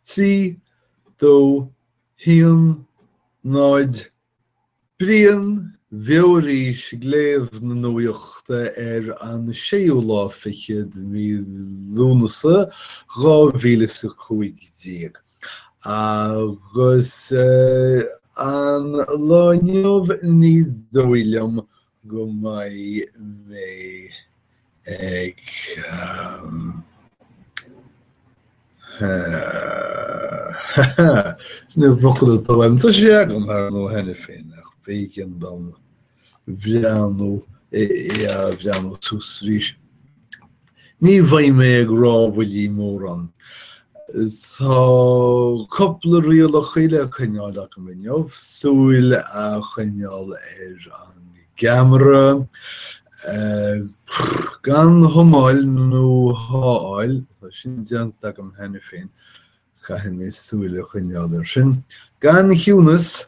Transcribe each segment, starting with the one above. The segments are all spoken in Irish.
3, 2, 1, 0 Brian Bheoirís ag léamh na nuachta ar an séú lá fichead de mhí Lúnasa, dhá mhíle is a cúig déag. Agus an lá inniu ní dóigh liom go mbeidh mé ag an bhfocal atá uaim. Tá sé agam ar ndó cheana féin ach b'éigean dom breathnú é a bhreathnú suas arís. Ní bheidh mé ag rámhaillí mórán. Tá cúpla riail le coinneáil agam inniu, súil a choinneáil ar an gceamara, gan humáil nó há áil, tá sin déanta agam cheana féin, caithfidh mé súil a choinneáil air sin, gan chiúnas,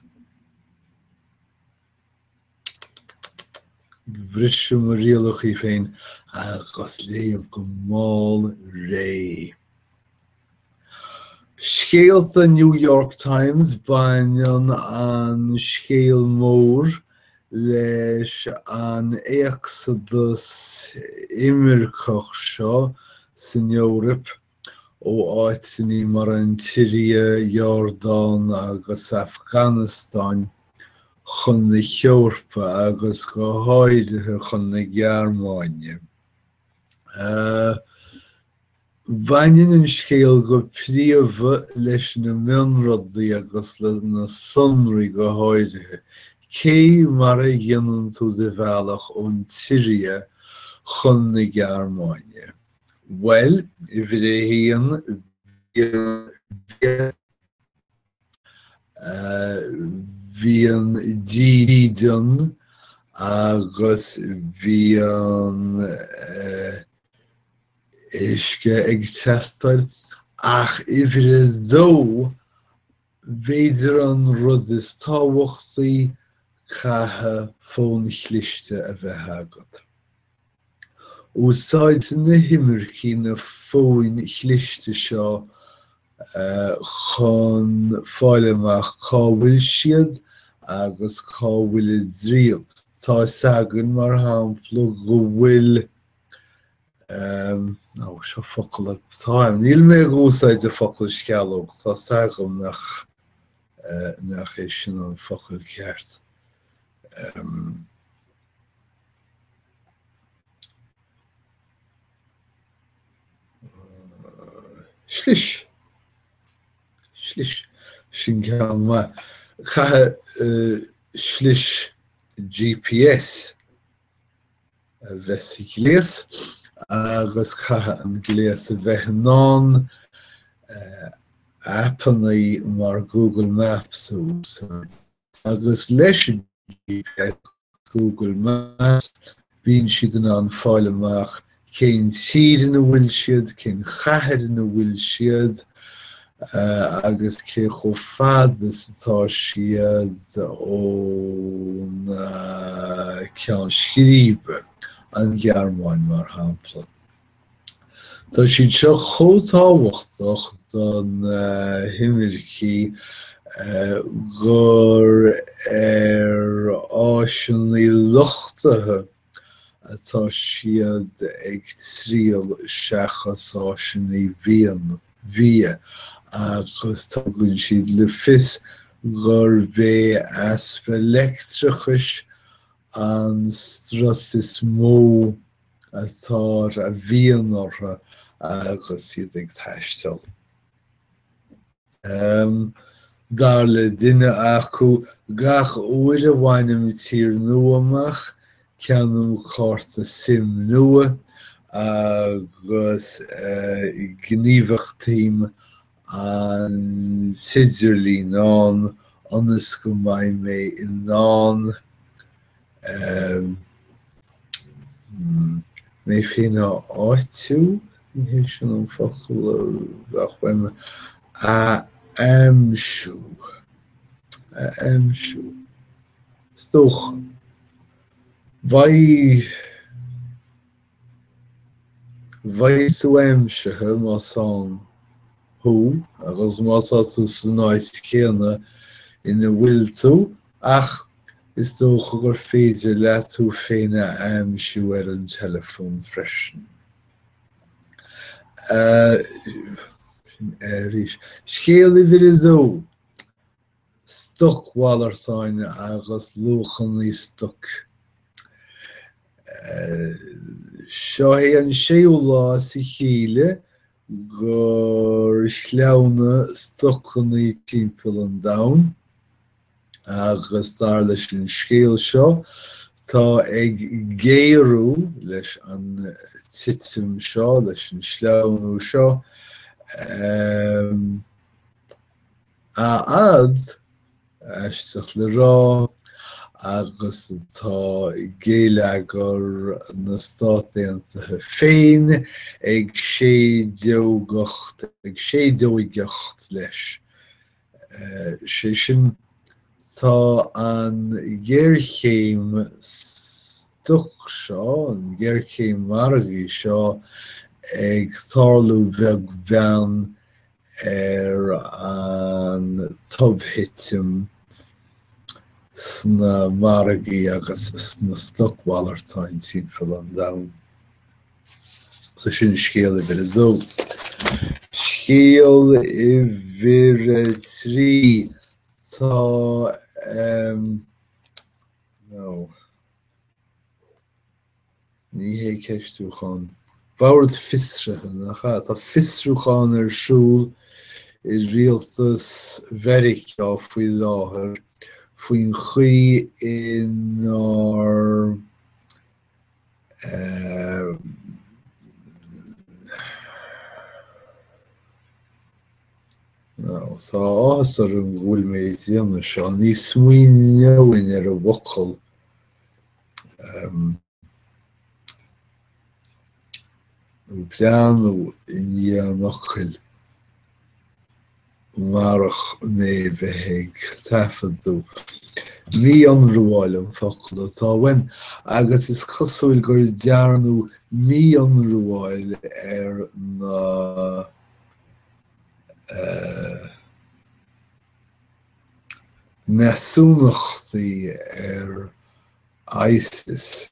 Bhris mé mo rialachaí féin agus léamh go mall réidh. Scéalta New York Times Baineann an scéal mór leis an éacsadas imirceach seo san Eoraip ó áiteanna mar an tSiria, Iordáin agus Afganastáin chun na hEorpa agus go háirithe chun na Gearmáine. Baineann an scéal go príomha leis na mionrudaí agus leis na sonraí go háirithe, cé mar a dhéanann tú do bhealach ón tSiria chun na Gearmáine? Bhuel, uimhir a haon bhíonn dídean agus bhíonn uisce ag teastáil ach uimhir a dó, b'fhéidir an rud is tábhachtaí, caithfidh fón cliste a bheith agat. Úsáideann na himircigh na fóin chliste seo chun fáil amach cá bhfuil siad agus cá bhfuil a dtriall. Tá 'fhios againn, mar shampla, go bhfuil, á, seo an focal atá uaim, níl mé ag úsáid an focal sceallóg, tá 'fhios agam nach, nach é sin an focal ceart. Slis. Slis. Sin ceann maith. Caithfidh slis GPS a bheith sa ghléas agus caithfidh an gléas a bheith in ann aipeanna mar Google Maps a úsáid. Agus leis an GPS, Google Maps, bíonn siad in ann fáil amach cén tír ina bhfuil siad, cén chathair ina bhfuil siad agus cé chomh fada is atá siad ón ceann scríbe, an Ghearmáin mar shampla. Tá siad seo chomh tábhachtach do na himircigh gur ar áiseanna luchtaithe atá siad ag triall seachas áiseanna bhia agus tugann siad le fios gurb é easpa leictreachais an strus is mó atá ar a bhíonn orthu agus iad ag taisteal. Dar le duine acu, gach uair a bhainim tír nua amach, ceannaím cárta sim nua agus gníomhachtaím an t-idirlíon ann ionas go mbeidh mé in ann mé féin a áitiú, ní hé sin an focal a bheadh uaim, a aimsiú, a aimsiú, is dócha. Beidh. Beidh tú aimsithe más ann thú agus má tá tú san áit chéanna ina bhfuil tú ach is dócha gur féidir leat tú féin a aimsiú ar an teileafón freisin. Scéal uimhir a dó. stocmhalartáin agus luachanna stoic. Seo é an séú lá as a chéile gur shleamhnaigh stocanna timpeall an domhain agus dar leis an scéal seo tá ag géarú leis an titim seo, leis an sleamhnú seo. A fhad, aisteach le rá, agus atá géilleagar na Stát Aontaithe féin ag séideogacht leis, sé sin tá an ghéarchéim stoc seo, an ghéarchéim mhargaidh seo ag tarlú beag beann ar an tobthitim sna margaí agus sna stocmhalartáin timpeall an domhain. So sin scéal uimhir a dó. Scéal uimhir a trí tá um Ní hé ceistiúchán bord fiosraithe, nach ea? Tá fiosrúchán ar siúl i rialtas Mheiriceá faoi láthair faoin chaoi inar Tá áthas orm go bhfuil mé ag déanamh seo. Ní smaoineoinn ar an bhfocal. Bhreathnóinn i ndiaidh an fhocail marach mé bheith ag taifeadadh. Mí-ionramháil an focal atá uaim agus is cosúil gur dearnadh mí-ionramháil ar na. measúnachtaí ar ISIS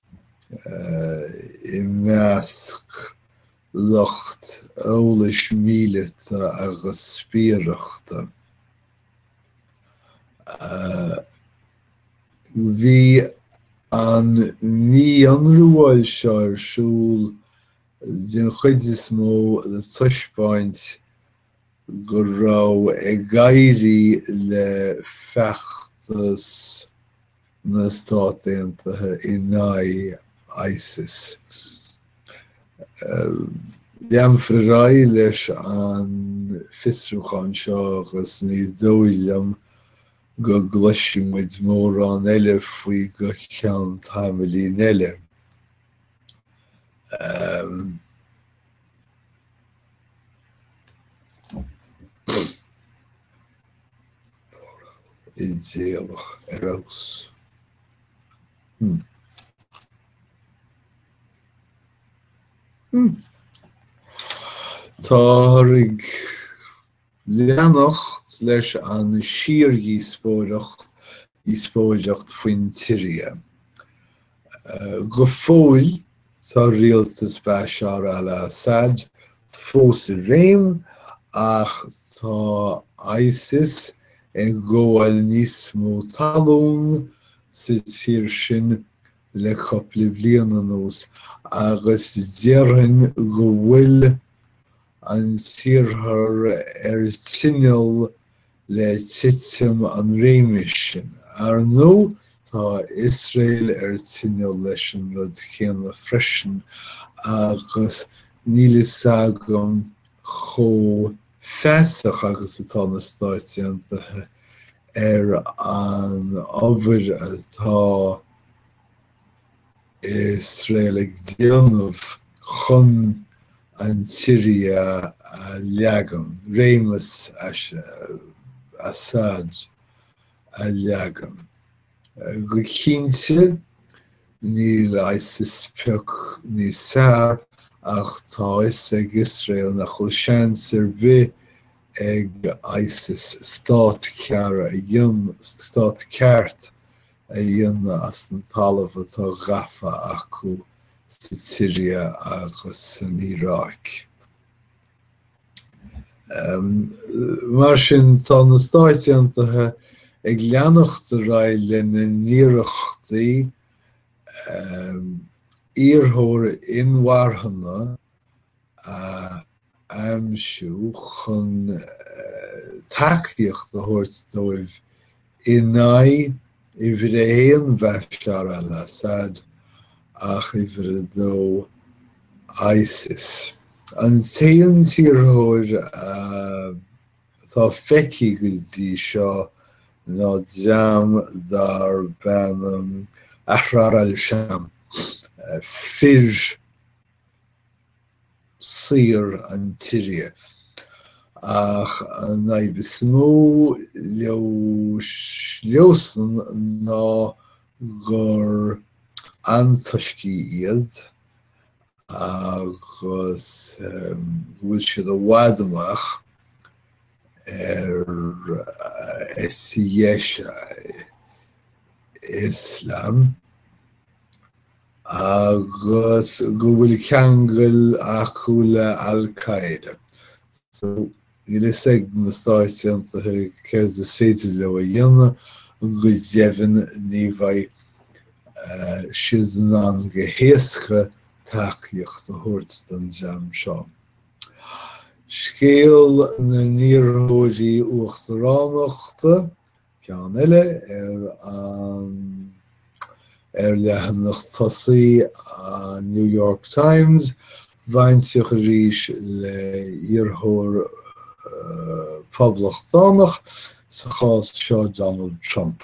i measc lucht eolais míleata agus spiaireachta. Bhí an mí-ionramháil seo ar siúl den chuid is mó le taispeáint go raibh ag éirí le feachtas na Stát Aontaithe in aghaidh ISIS. Leanfar ar aghaidh leis an bhfiosrúchán seo agus ní dóigh liom go gcloisfidh muid mórán eile faoi go ceann tamaillín eile. idéalach ar fheabhas. Táthar ag Leanacht leis an síordhíospóireacht faoin tSiria. Go fóill tá rialtas Bashar al-Assad fós i réim ach tá ISIS ag gabháil níos mó talún sa tír sin le cupla bliain anuas agus déarfainn go bhfuil an tIarthar ar tinneall le titim an réimis sin. Ar ndú tá Iosrael ar tinneall leis an rud céanna freisin agus níl fhios agam chomh feasach agus atá na Stáit Aontaithe ar an obair atá Iosrael ag déanamh chun an tSiria a leagan, réimeas Assad a leagan. Go cinnte, níl ISIS pioc níos fearr, ach tá fhios ag Iosrael nach bhfuil seans ar bith ag ISIS stát ceart, stát ceart a dhéanamh as an talamh atá gafa acu sa tSiria agus san Iaráic. Mar sin, tá na Stáit Aontaithe ag leanacht ar aghaidh lena n-iarrachtaí iarrthóir inmharthana a aimsiú chun tacaíocht a thabhairt dóibh in aghaidh uimhir a haon Bashar al-Assad ach uimhir a dó ISIS. An t-aon iarrthóir atá feicthe go dtí seo ná dream darb ainm Ahrar al-Sham, Fir saora na Siria. Ach an fhadhb is mó leosan ná gur antoiscí iad agus go bhfuil siad i bhfad amach ar dheis Ioslam. agus go bhfuil ceangal acu le Al Qaeda. So, níl fhios ag na Stáit Aontaithe céard is féidir leo a dhéanamh, go deimhin ní bheidh siad in ann go héasca tacaíocht a thabhairt don dream seo. Scéal na n-iarrthóirí uachtaránachta ceann eile ar an ar leathanach tosaí an New York Times, bainteach arís le iarrthóir Poblachtánach, sa chás seo Donald Trump.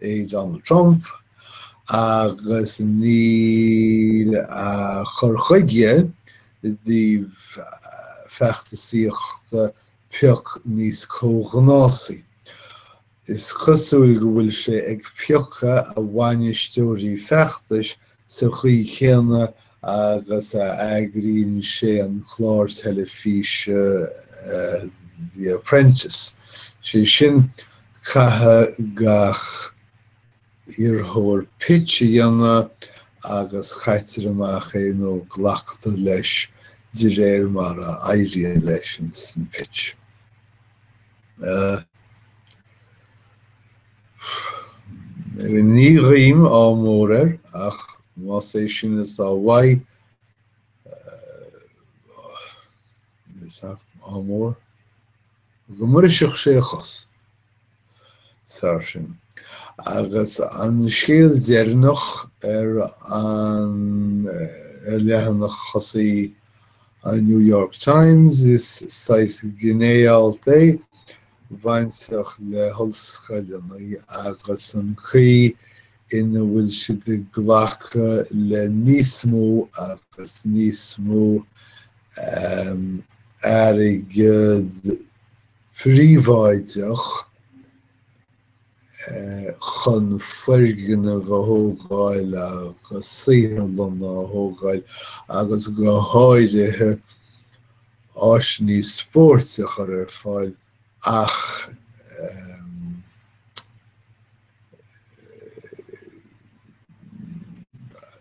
é Donald Trump agus níl a chur chuige i dtaobh feachtasaíochta pioc níos comhghnásaí. Is cosúil go bhfuil sé ag piocadh a bhainisteoirí feachtais sa chaoi chéanna agus a eagraíonn sé an clár teilifíse The Apprentice, sé sin caithfidh gach iarrthóir pitch a dhéanamh agus caitear amach é nó glactar leis de réir mar a éiríonn leis insan pitch. Ní ghuím ádh mór air ach más é sin is atá uaidh, ádh mór, go mbrisfeadh sé a chos. Sar sin. Agus an scéal deireanach ar an, ar leathanach tosaí an New York Times, is saghas gné-alt é, bainteach le hollscoileanna agus an chaoi ina bhfuil siad ag glacadh le níos mó agus níos mó airgead príobháideach. chun foirgnimh a thógáil agus saotharlanna a thógáil agus go háirithe áiseanna spóirt a chur ar fáil ach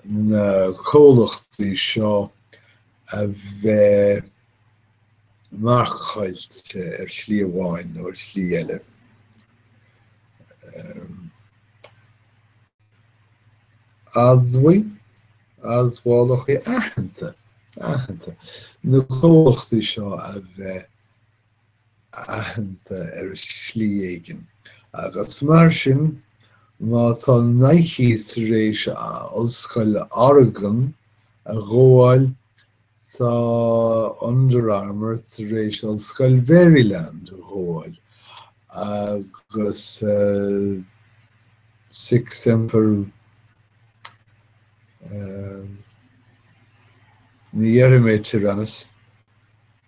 na comhlachtaí seo a bheith marcáilte ar shlí amháin nó ar shlí eile. Admhaigh, admhálacha aitheanta, aitheanta, na comhlachtaí seo a bheith aitheanta ar shlí éigin agus mar sin má tá Nike tar éis ollscoil Oregon a ghabháil tá Under Armour tar éis ollscoil Maryland a ghabháil agus sic semper ní déarfaidh mé Tyrannus.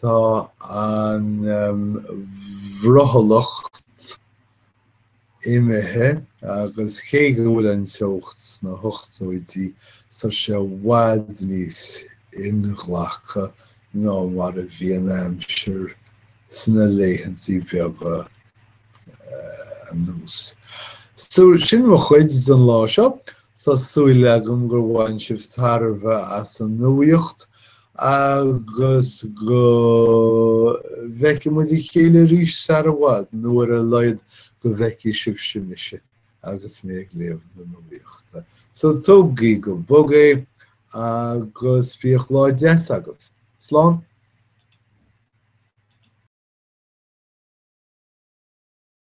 Tá an bhrothallacht imithe agus cé go bhfuil an teocht sna hochtóidí tá sé i bhfad níos inghlactha ná mar a bhí an aimsir sna laethantaí beaga anuas. So sin mo chuid don lá seo. Tá súil agam gur bhain sibh tairbhe as an nuaíocht agus go bhfeicfidh muid a chéile arís sar i bhfad, nó ar a laghad go bhfeicfidh sibhse mise agus mé ag léamh na nuaíochta. So tógaigí go bog é agus bíodh lá deas agaibh. Slán!